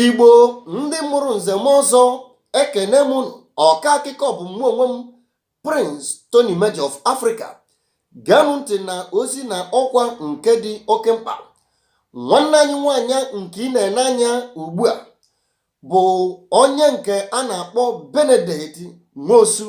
igbo ndị mụrụ nze mụọ ọzọ ekene m unu ọka akụkọ bụ mụ onwe m prince tony major of africa gee m ntị na ozi na ọkwa nke dị oke mkpa nwanne anyị nwanyị nke ị na-ene anya ugbu a bụ onye nke a na-akpọ benedict nwosu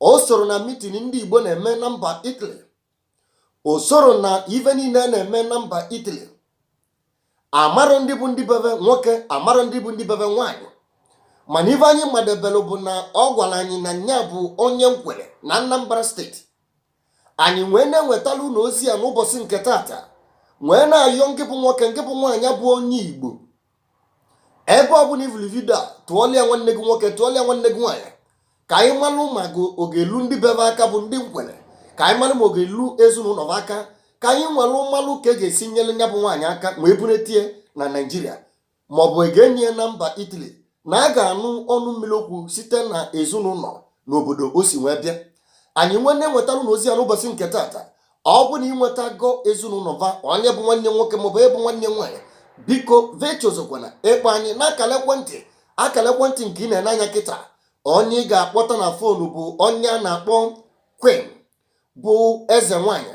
o soro na mitin ndị Igbo na-eme na mba Italy o soro na ife niile a na-eme na mba Italy amarọ ndị bụ ndị be be nwoke amarọ ndị bụ ndị be be nwaanyị mana ife anyị madebelụ bụ na ọ gwara anyị na nya bụ onye nkwere na Anambra steeti anyị wee na-enwetalụ unu ozi ya n'ụbọsị nke tata wee na-ayọ ngị bụ nwoke ngị bụ nwaanyị bụ onye igbo ebe ọ bụna ị vụlụ vidio a tụọlụ ya nwanne gị nwoke tụọlụ ya nwanne gị nwaanyị ka anyị malụ ma ọ ga-elu ndị be be aka bụ ndị nkwere ka anyị malụ ma ọ ga-elu ezinụnọ va aka ka anyị nwelụ malụ ka e ga-esi nyere nya bụ nwaanyị aka nwee bunata ya na naijiria maọbụ e ga-eni ya na mba Italy na a ga-anụ ọnụ mmili okwu site na ezinụnọ na obodo o si nwee bịa anyị nwee na-enwetalụ unu ozi ya n'ụbọsị nke taata ọ bụ na ị nwetago ezinụnọ va onye bụ nwanne ya nwoke maọbụ ị bụ nwanne ya nwaanyị biko echezọkwana ịkpọ anyị na akara ekwentị akara ekwentị nke ị na-ene anya kịta onye ị ga-akpọta na fonu bụ onye a na-akpọ queen bụ eze nwanyị